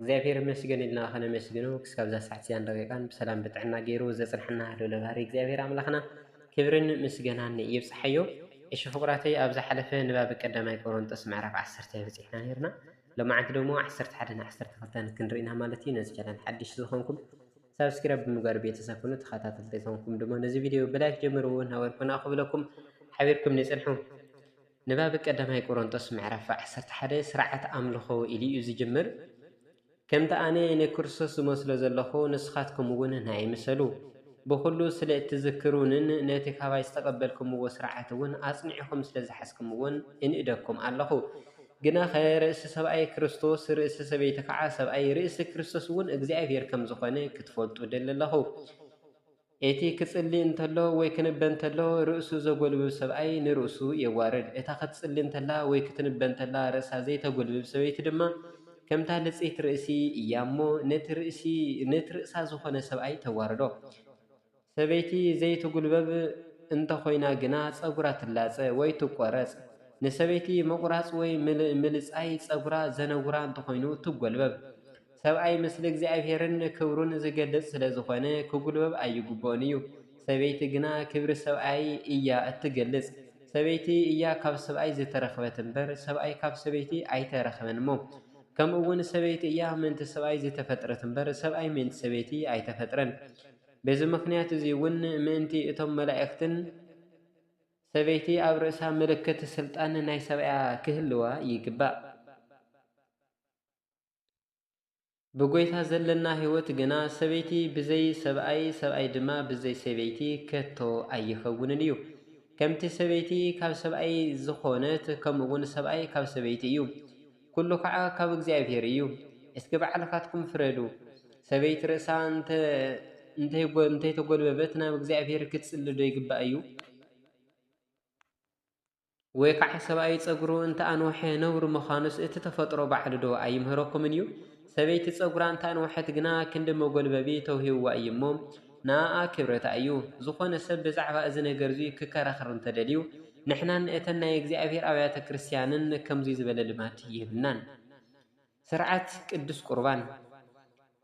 እግዚኣብሔር ይመስገን ኢልና ከነመስግኖ ክሳብ እዛ ሰዓት እዚኣን ደቂቃን ብሰላም ብጥዕና ገይሩ ዘጽንሐና ልዑለ ባህሪ እግዚኣብሔር ኣምላኽና ክብርን ምስገናን ይብጽሓዮ። እሺ ፍቁራተይ ኣብ ዝሓለፈ ንባብ ቀዳማይ ቆሮንጦስ ምዕራፍ ዓሰርተ በጺሕና ነይርና። ሎማዓንቲ ደሞ ዓሰርተ ሓደን ዓሰርተ ክልተን ክንሪኢና ማለት እዩ። ነዚ ቻናል ሓድሽ ዝኾንኩም ሳብስክራይብ ብምግባር ቤተሰብ ኩኑ። ተኸታተልቲ ዝኾንኩም ድማ ነዚ ቪድዮ ብላይክ ጀምርዎ ነበርኩና ክብለኩም ሓቢርኩም ንጽንሑ። ንባብ ቀዳማይ ቆሮንጦስ ምዕራፍ ዓሰርተ ሓደ ሥርዓት ኣምልኾ ኢሉ እዩ ዝጅምር። ከምቲ ኣነ ንክርስቶስ ዝመስሎ ዘለኹ ንስኻትኩምውን ንኣይ ምሰሉ። ብኹሉ ስለ እትዝክሩንን ነቲ ካባይ ዝተቐበልኩምዎ ሥርዓትውን ኣጽኒዕኹም ስለ ዝሓዝኩምዎን እንእደኩም ኣለኹ። ግናኸ ርእሲ ሰብኣይ ክርስቶስ፣ ርእሲ ሰበይቲ ከዓ ሰብኣይ፣ ርእሲ ክርስቶስውን እግዚኣብሔር ከም ዝኾነ ክትፈልጡ እደሊ ኣለኹ። እቲ ኺጽሊ እንተሎ ወይ ኪንበ እንተሎ፣ ርእሱ ዘጐልብብ ሰብኣይ ንርእሱ የዋርድ፣ እታ ኽትጽሊ እንተላ ወይ ክትንበ እንተላ ርእሳ ዘይተጐልብብ ሰበይቲ ድማ፣ ከምታ ልጽይቲ ርእሲ እያ እሞ፣ ነቲ ርእሳ ዝዀነ ሰብኣይ ተዋርዶ። ሰበይቲ ዘይትጕልበብ እንተ ዀይና ግና፣ ጸጕራ ትላጸ ወይ ትቈረጽ። ንሰበይቲ ምቝራጽ ወይ ምልጻይ ጸጕራ ዜነውራ እንተ ዀይኑ፣ ትጐልበብ። ሰብኣይ ምስሊ እግዚኣብሔርን ክብሩን ዝገልፅ ስለ ዝኾነ ክጉልበብ ኣይግብኦን እዩ። ሰበይቲ ግና ክብሪ ሰብኣይ እያ እትገልፅ። ሰበይቲ እያ ካብ ሰብኣይ ዝተረኽበት እምበር ሰብኣይ ካብ ሰበይቲ ኣይተረኽበንሞ ከምኡውን ሰበይቲ እያ ምእንቲ ሰብኣይ ዝተፈጥረት እምበር ሰብኣይ ምእንቲ ሰበይቲ ኣይተፈጥረን። በዚ ምኽንያት እዚ እውን ምእንቲ እቶም መላእኽትን ሰበይቲ ኣብ ርእሳ ምልክት ስልጣን ናይ ሰብኣያ ክህልዋ ይግባእ። ብጐይታ ዘለና ሕይወት ግና ሰበይቲ ብዘይ ሰብኣይ ሰብኣይ ድማ ብዘይ ሰበይቲ ከቶ ኣይከውንን እዩ። ከምቲ ሰበይቲ ካብ ሰብኣይ ዝኾነት ከምኡውን ሰብኣይ ካብ ሰበይቲ እዩ። ኩሉ ኸኣ ካብ እግዚኣብሔር እዩ። እስኪ ባዕልኻትኩም ፍረዱ። ሰበይቲ ርእሳ እንተይተጐልበበት ናብ እግዚኣብሔር ክትጽሊ ዶ ይግባእ እዩ? ወይ ከዓ ሰብኣይ ፀጉሩ እንተኣንወሐ ነውሪ ምዃኑስ እቲ ተፈጥሮ ባዕሉ ዶ ኣይምህረኩምን እዩ? ሰበይቲ ፀጉራ እንተኣንወሐት ግና ክንዲ መጎልበቢ ተውሂብዋ እዩ እሞ ንኣኣ ክብረታ እዩ። ዝኾነ ሰብ ብዛዕባ እዚ ነገር እዙይ ክከራኸር እንተደልዩ ንሕናን እተን ናይ እግዚኣብሔር ኣብያተ ክርስቲያንን ከምዙይ ዝበለ ልማድ የብልናን። ሥርዓት ቅዱስ ቍርባን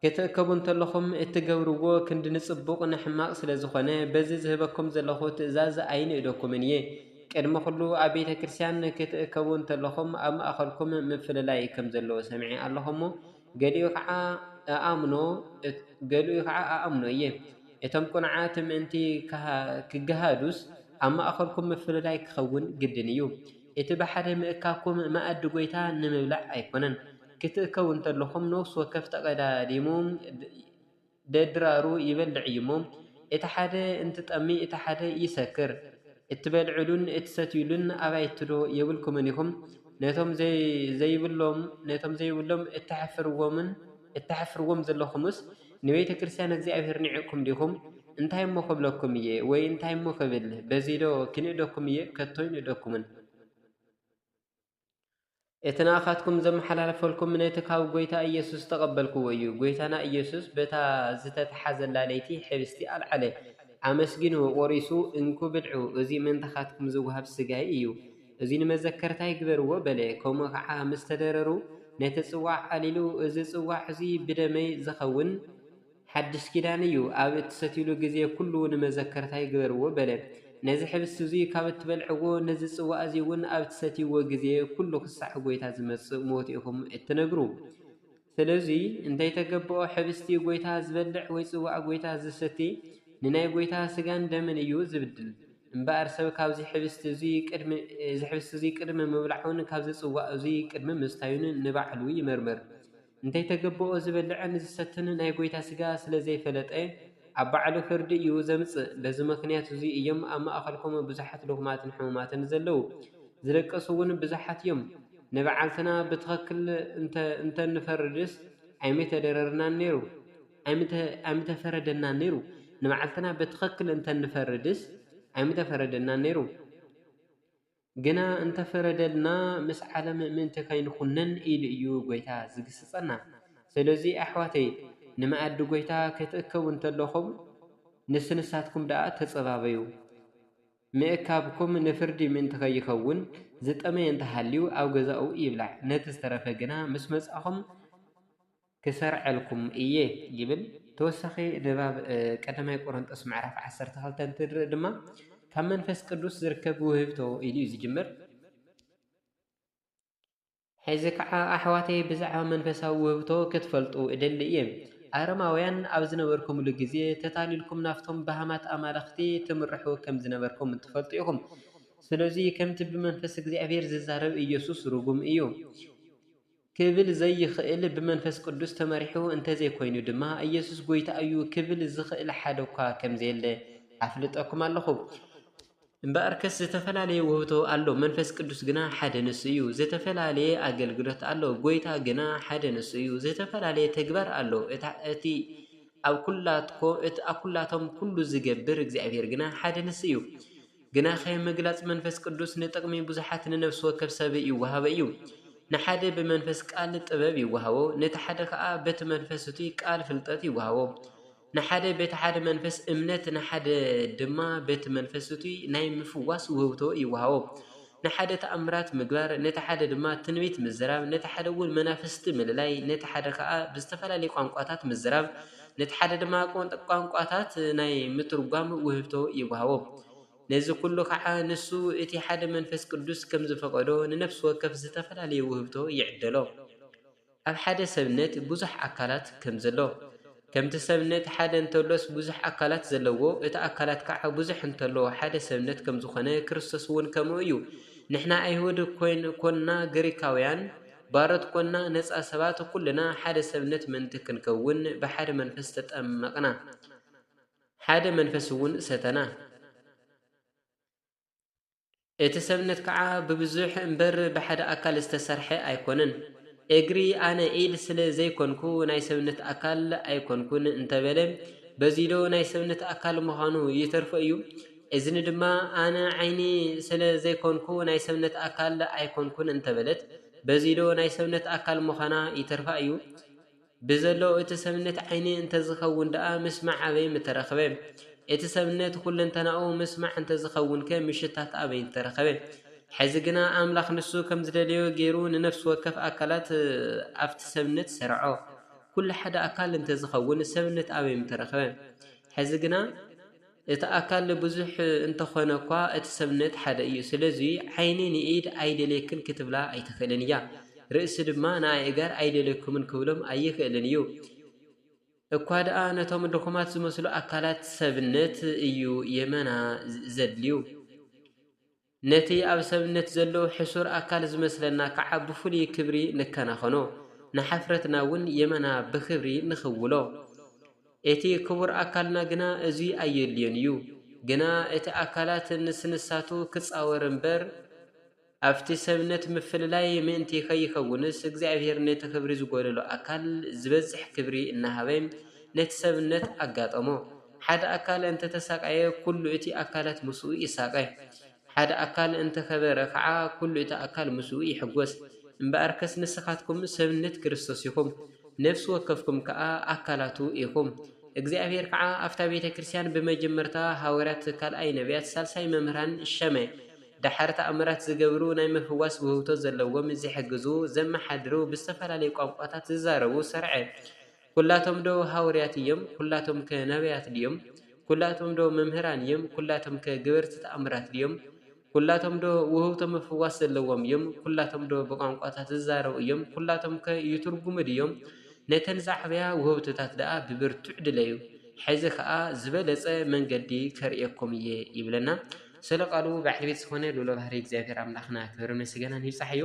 ክትእከቡ እንተለኹም እትገብርዎ ክንዲ ንጽቡቕ ንሕማቕ ስለ ዝኾነ በዚ ዝህበኩም ዘለኹ ትእዛዝ ኣይንእደኩምን እየ። ቅድሚ ዅሉ ኣብ ቤተ ክርስቲያን ክትእከቡ እንተለኹም ኣብ ማእከልኩም ምፍልላይ ከም ዘለዎ ሰምዔ ኣለኹ እሞ ገሊኡ ኸዓ እኣምኖ እየ። እቶም ቅኑዓት ምእንቲ ክገሃዱስ ኣብ ማእከልኩም ምፍልላይ ክኸውን ግድን እዩ። እቲ ብሓደ ምእካብኩም መኣዲ ጐይታ ንምብላዕ ኣይኰነን። ክትእከቡ እንተለኹም፣ ነፍሲ ወከፍ ተቐዳዲሙ ደድራሩ ይበልዕ እዩ እሞ፣ እቲ ሓደ እንትጠሚ እቲ ሓደ ይሰክር። እትበልዕሉን እትሰትዩሉን ኣባይቲዶ የብልኩምን ኢኹም? ነቶም ዘይብሎም እተሕፍርዎምን እተሕፍርዎም ዘለኹምስ፣ ንቤተ ክርስቲያን እግዚኣብሔር ኒዕቅኩም ዲኹም? እንታይ እሞ ክብለኩም እየ ወይ እንታይ እሞ ክብል በዚዶ ኪንእደኩም እየ ከቶ ኣይንእደኩምን። እቲ ንኣኻትኩም ዘመሓላልፈልኩም ነቲ ካብ ጐይታ ኢየሱስ ዝተቐበልክዎ እዩ። ጐይታና ኢየሱስ በታ ዝተተሓዘላ ለይቲ ኅብስቲ ኣልዓለ፣ ኣመስጊኑ ቈሪሱ እንኩ ብልዑ እዚ ምእንታኻትኩም ዝወሃብ ሥጋይ እዩ። እዚ ንመዘከርታ ይግበርዎ በለ፣ ከምኡ ኸኣ ምስ ተደረሩ ነቲ ጽዋዕ ኣልኢሉ፣ እዚ ጽዋዕ እዚ ብደመይ ዚኸውን ሓድሽ ኪዳን እዩ፣ ኣብ እትሰትዩሉ ግዜ ኵሉ ንመዘከርታ ይግበርዎ በለ። ነዚ ኅብስት እዙይ ካብ እትበልዕዎ፣ ነዚ ጽዋዕ እዙይውን ኣብ እትሰትይዎ ጊዜ ኵሉ ኽሳዕ ጐይታ ዚመጽእ ሞቱ ኢኹም እትነግሩ። ስለዙይ እንተይተገበኦ ኅብስቲ ጐይታ ዝበልዕ ወይ ጽዋዕ ጐይታ ዚሰቲ ንናይ ጐይታ ሥጋን ደምን እዩ ዚብድል። እምበኣር ሰብ ካብዙይ ኅብስቲ እዙይ ቅድሚ ምብላዑን ካብዚ ጽዋዕ እዙይ ቅድሚ ምስታዩን ንባዕሉ ይመርምር። እንተይተገበኦ ዚበልዕን ዚሰትን ናይ ጐይታ ሥጋ ስለ ዘይፈለጠ ኣብ ባዕሉ ፍርዲ እዩ ዘምጽእ። በዚ ምኽንያት እዙይ እዮም ኣብ ማእኸልኩም ብዙኃት ድኹማትን ሕሙማትን ዘለዉ፣ ዝደቀሱውን ብዙኃት እዮም። ንባዕልትና ብትኽክል እንተንፈርድስ ኣይምተደረርናን ነይሩ፣ ኣይምተፈረደናን ነይሩ፣ ንባዕልትና ብትኽክል እንተንፈርድስ ኣይምተፈረደናን ነይሩ፣ ግና እንተፈረደልና ምስ ዓለም ምእንቲ ከይንኹነን ኢሉ እዩ ጐይታ ዝግስጸና። ስለዚ ኣሕዋተይ ንመኣዲ ጐይታ ክትእከቡ እንተለኹም ንስንሳትኩም ደኣ ተጸባበዩ። ምእካብኩም ንፍርዲ ምእንቲ ኸይኸውን፣ ዝጠመየ እንተ ሃልዩ ኣብ ገዛኡ ይብላዕ፣ ነቲ ዝተረፈ ግና ምስ መጻእኹም ክሰርዐልኩም እየ ይብል። ተወሳኺ ንባብ ቀዳማይ ቆሮንጦስ ምዕራፍ ዓሰርተ ክልተ እንትንርኢ ድማ ካብ መንፈስ ቅዱስ ዝርከብ ውህብቶ ኢሉ እዩ ዝጅምር። ሕዚ ከኣ ኣሕዋተይ ብዛዕባ መንፈሳዊ ውህብቶ ክትፈልጡ እደሊ እየ። ኣረማውያን ኣብ ዝነበርኩምሉ ግዜ ተታሊልኩም ናብቶም በሃማት ኣማልኽቲ ትምርሑ ከም ዝነበርኩም ትፈልጡ ኢኹም። ስለዙይ ከምቲ ብመንፈስ እግዚኣብሔር ዝዛረብ ኢየሱስ ርጉም እዩ ክብል ዘይኽእል ብመንፈስ ቅዱስ ተመሪሑ እንተዘይኮይኑ ድማ ኢየሱስ ጐይታ እዩ ክብል ዝኽእል ሓደኳ ከምዘየለ ኣፍልጠኩም ኣለኹ። እምበኣርከስ ዝተፈላለየ ውህብቶ ኣሎ፣ መንፈስ ቅዱስ ግና ሓደ ንሱ እዩ። ዝተፈላለየ ኣገልግሎት ኣሎ፣ ጐይታ ግና ሓደ ንሱ እዩ። ዝተፈላለየ ተግባር ኣሎ፣ እቲ ኣብ ኵላቶም ኵሉ ዚገብር እግዚኣብሄር ግና ሓደ ንሱ እዩ። ግናኸ ምግላጽ መንፈስ ቅዱስ ንጥቕሚ ብዙሓት ንነፍሲ ወከፍ ሰብ ይወሃቦ እዩ። ንሓደ ብመንፈስ ቃል ጥበብ ይወሃቦ፣ ነቲ ሓደ ኸኣ በቲ መንፈስ እቱይ ቃል ፍልጠት ይወሃቦ። ንሓደ በቲ ሓደ መንፈስ እምነት፣ ንሓደ ድማ በቲ መንፈስ እቱይ ናይ ምፍዋስ ውህብቶ ይወሃቦ። ንሓደ ተኣምራት ምግባር፣ ነቲ ሓደ ድማ ትንቢት ምዝራብ፣ ነቲ ሓደ እውን መናፍስቲ ምልላይ፣ ነቲ ሓደ ኸዓ ብዝተፈላለዩ ቛንቋታት ምዝራብ፣ ነቲ ሓደ ድማ ቛንቋታት ናይ ምትርጓም ውህብቶ ይወሃቦ። ነዚ ዅሉ ኸዓ ንሱ እቲ ሓደ መንፈስ ቅዱስ ከም ዝፈቐዶ ንነፍሲ ወከፍ ዝተፈላለየ ውህብቶ ይዕደሎ። ኣብ ሓደ ሰብነት ብዙሕ ኣካላት ከም ዘሎ። ከምቲ ሰብነት ሓደ እንተሎስ ብዙሕ ኣካላት ዘለዎ፣ እቲ ኣካላት ከኣ ብዙሕ እንተሎ ሓደ ሰብነት ከም ዝኾነ ክርስቶስውን ከምኡ እዩ። ንሕና ኣይሁድ ኮንና ግሪካውያን፣ ባሮት ኮንና ነጻ ሰባት ኩልና ሓደ ሰብነት ምእንቲ ክንከውን ብሓደ መንፈስ ተጠመቕና ሓደ መንፈስውን ሰተና። እቲ ሰብነት ከኣ ብብዙሕ እምበር ብሓደ ኣካል ዝተሰርሐ ኣይኮነን። እግሪ ኣነ ኢድ ስለ ዘይኮንኩ ናይ ሰብነት ኣካል ኣይኮንኩን እንተበለ በዚዶ ናይ ሰብነት ኣካል ምዃኑ ይተርፎ እዩ? እዝኒ ድማ ኣነ ዓይኒ ስለ ዘይኮንኩ ናይ ሰብነት ኣካል ኣይኮንኩን እንተበለት በዚዶ ናይ ሰብነት ኣካል ምዃና ይተርፋ እዩ? ብዘሎ እቲ ሰብነት ዓይኒ እንተዝኸውን ደኣ ምስማዕ ኣበይ ምተረኽበ? እቲ ሰብነት ዅለንተናኡ ምስማዕ እንተዝኸውንከ ምሽታት ኣበይ ምተረኽበ? ሕዚ ግና ኣምላኽ ንሱ ከም ዝደለዮ ገይሩ ንነፍሲ ወከፍ ኣካላት ኣብቲ ሰብነት ሰርዖ። ኵሉ ሓደ ኣካል እንተዝኸውን ሰብነት ኣበይ ምተረኽበ? ሕዚ ግና። እቲ ኣካል ብዙሕ እንተኾነ'ኳ እቲ ሰብነት ሓደ እዩ። ስለዚ ዓይኒ ንኢድ ኣይደልየክን ክትብላ ኣይትኽእልን እያ። ርእሲ ድማ ንኣእጋር ኣይደልየኩምን ክብሎም ኣይኽእልን እዩ። እኳ ድኣ ነቶም ድኹማት ዝመስሉ ኣካላት ሰብነት እዩ የመና ዘድልዩ። ነቲ ኣብ ሰብነት ዘሎ ሕሱር ኣካል ዝመስለና ከዓ ብፍሉይ ክብሪ ንከናኸኖ፣ ንሓፍረትና እውን የማና ብክብሪ ንኽውሎ። እቲ ክቡር ኣካልና ግና እዙይ ኣየድልዮን እዩ። ግና እቲ ኣካላት ንስንሳቱ ክፃወር እምበር ኣብቲ ሰብነት ምፍልላይ ምእንቲ ከይከውንስ እግዚኣብሔር ነቲ ክብሪ ዝጎደሎ ኣካል ዝበዝሕ ክብሪ እናሃበ ነቲ ሰብነት ኣጋጠሞ። ሓደ ኣካል እንተ ተሳቀየ ኩሉ እቲ ኣካላት ምስኡ ይሳቀ፣ ሓደ ኣካል እንተ ኸበረ ኸኣ ኩሉ እቲ ኣካል ምስኡ ይሕጐስ። እምበኣርከስ ንስኻትኩም ሰብነት ክርስቶስ ኢኹም፣ ነፍሲ ወከፍኩም ከኣ ኣካላቱ ኢኹም። እግዚኣብሔር ከኣ ኣብታ ቤተ ክርስቲያን ብመጀመርታ ሃዋርያት፣ ካልኣይ ነቢያት፣ ሳልሳይ መምህራን ሸመ፣ ደሓር ተኣምራት ዝገብሩ፣ ናይ ምፍዋስ ውህብቶ ዘለዎም፣ ዝሕግዙ፣ ዘመሓድሩ፣ ብዝተፈላለዩ ቋንቋታት ዝዛረቡ ሰርዐ። ኵላቶምዶ ሃውርያት እዮም? ኵላቶምከ ነብያት ድዮም? ኵላቶምዶ መምህራን እዮም? ኵላቶምከ ገበርቲ ተኣምራት ድዮም? ኵላቶምዶ ውህብቶ ምፍዋስ ዘለዎም እዮም? ኵላቶምዶ ብቛንቋታት ዚዛረቡ እዮም? ኵላቶምከ ይትርጕሙ ድዮም? ነተን ዚዓብያ ውህብቶታት ደኣ ብብርቱዕ ድለዩ፣ ሕዚ ኸኣ ዝበለጸ መንገዲ ከርእየኩም እየ ይብለና። ስለ ቃሉ በዓል ቤት ዝኾነ ልኡለ ባህርይ እግዚኣብሔር ኣምላኽና ክብርን ምስጋናን ይብጻሕዮ።